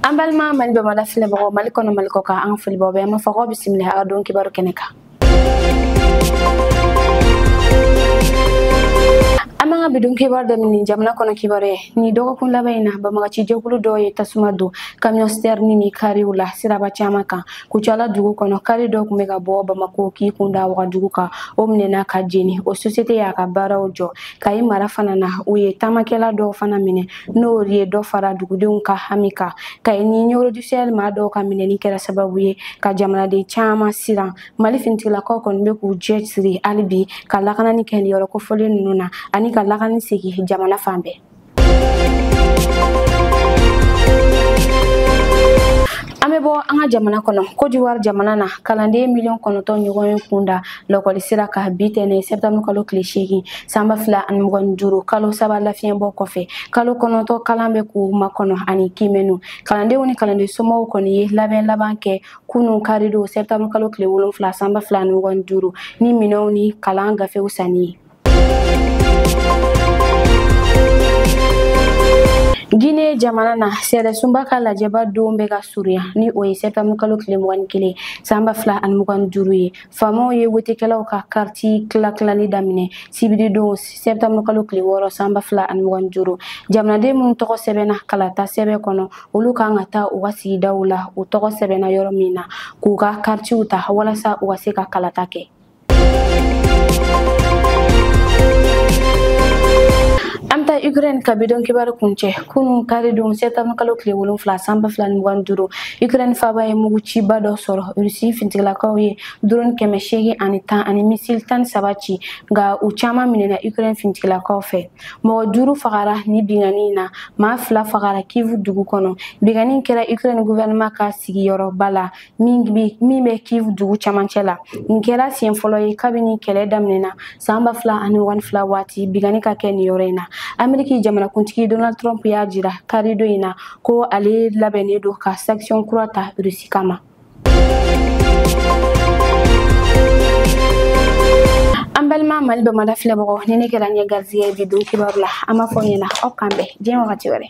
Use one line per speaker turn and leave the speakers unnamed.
an balima mali bamada filɛbagaw mali kɔnɔ mali kɔkan an ka foli b'aw bɛɛ ma fo k'aw bisimila an ka don kibaru kɛnɛ kan an b'an ka bidon kibaru daminɛ jamana kɔnɔ kibaru ye nin dɔgɔkun laban in na banbaganci jɛkulu dɔw ye tasuma don kamiyɔn sitɛrini ni kariw la siraba caman kan kucala dugu kɔnɔ kari dɔ tun bɛ ka bɔ bamako k'i kun da wagadugu kan o minɛna ka jeni o sosiyete y'a ka baaraw jɔ kayi mara fana na u ye taamakɛla dɔw fana minɛ n'o ye dɔ fara dugudenw ka hami kan kayi ni ɲɔrɔ du sahel maa dɔw ka minɛni kɛra sababu ye ka jamanaden caman siran mali finitigilakaw kɔni bɛ k'u cɛsiri hali bi ka lakanani kɛ nin yɔrɔ kofɔlen ninnu na ani ka lakanani segin jamana fan bɛɛ an bɛ bɔ an ka jamana kɔnɔ kodiwari jamana na kalanden miliyɔn kɔnɔntɔn ɲɔgɔn y'u kun da lɔkɔli sira kan bi tɛnɛn sɛtanburu kalo tile seegin san ba fila ani mugan ni duuru kalo saba lafiɲɛbɔ kɔfɛ kalo kɔnɔntɔn kalan bɛ k'u makɔnɔ ani kiimɛniw kalandenw ni kalanden somɔgɔw kɔni ye labɛn laban kɛ kunu karidon sɛtanburu kalo tile wolonfila san ba fila ani mugan ni duuru ni minɛw ni kalan gafew sanni ye Guinée jamana na sariyasunba ka lajɛba don bɛ ka surunya ni o ye sɛtanburu kalo tile mugan ni kelen san ba fila ani mugan ni duuru ye faamaw ye wotekɛlaw ka kariti tilatilali daminɛ sibiri don sɛtanburu kalo tile wɔɔrɔ san ba fila ani mugan ni duuru jamanaden minnu tɔgɔ sɛbɛnna kalata sɛbɛn kɔnɔ olu ka kan ka taa u ka sigidaw la u tɔgɔ sɛbɛnna yɔrɔ min na k'u ka karitiw ta walasa u ka se ka kalata kɛ taa Ukraine ka bidon kibaru kuncɛ kunun karidon septembre kalo tile wolonfila san ba fila ni mugan duuru Ukraine faba ye muguciba dɔ sɔrɔ Russie fintigilakaw ye drone kɛmɛ seegin ani tan ani missile tan saba ci nka u caman minɛna Ukraine fintigilakaw fɛ mɔgɔ duuru fagara nin binkanni in na maa fila fagara Kyiv dugu kɔnɔ binkanni kɛra Ukraine gouvernement ka sigiyɔrɔba la min bɛ min bɛ kiv dugu camancɛ la nin kɛra siɲɛ fɔlɔ ye kabini kɛlɛ daminɛna san ba fila ani mugan ni fila waati binkanni ka kɛ nin yɔrɔ in na ameriki jamanakuntigi donald trump y'a jira karidon in na ko ale labɛnnen don ka sanction kura ta rusi kama an balima mali bamada filɛbagaw nin de kɛra an ye garizigɛ bi don kibaru la an b'a fɔ ɲɛna aw k'an bɛn diɲɛ wagati wɛrɛ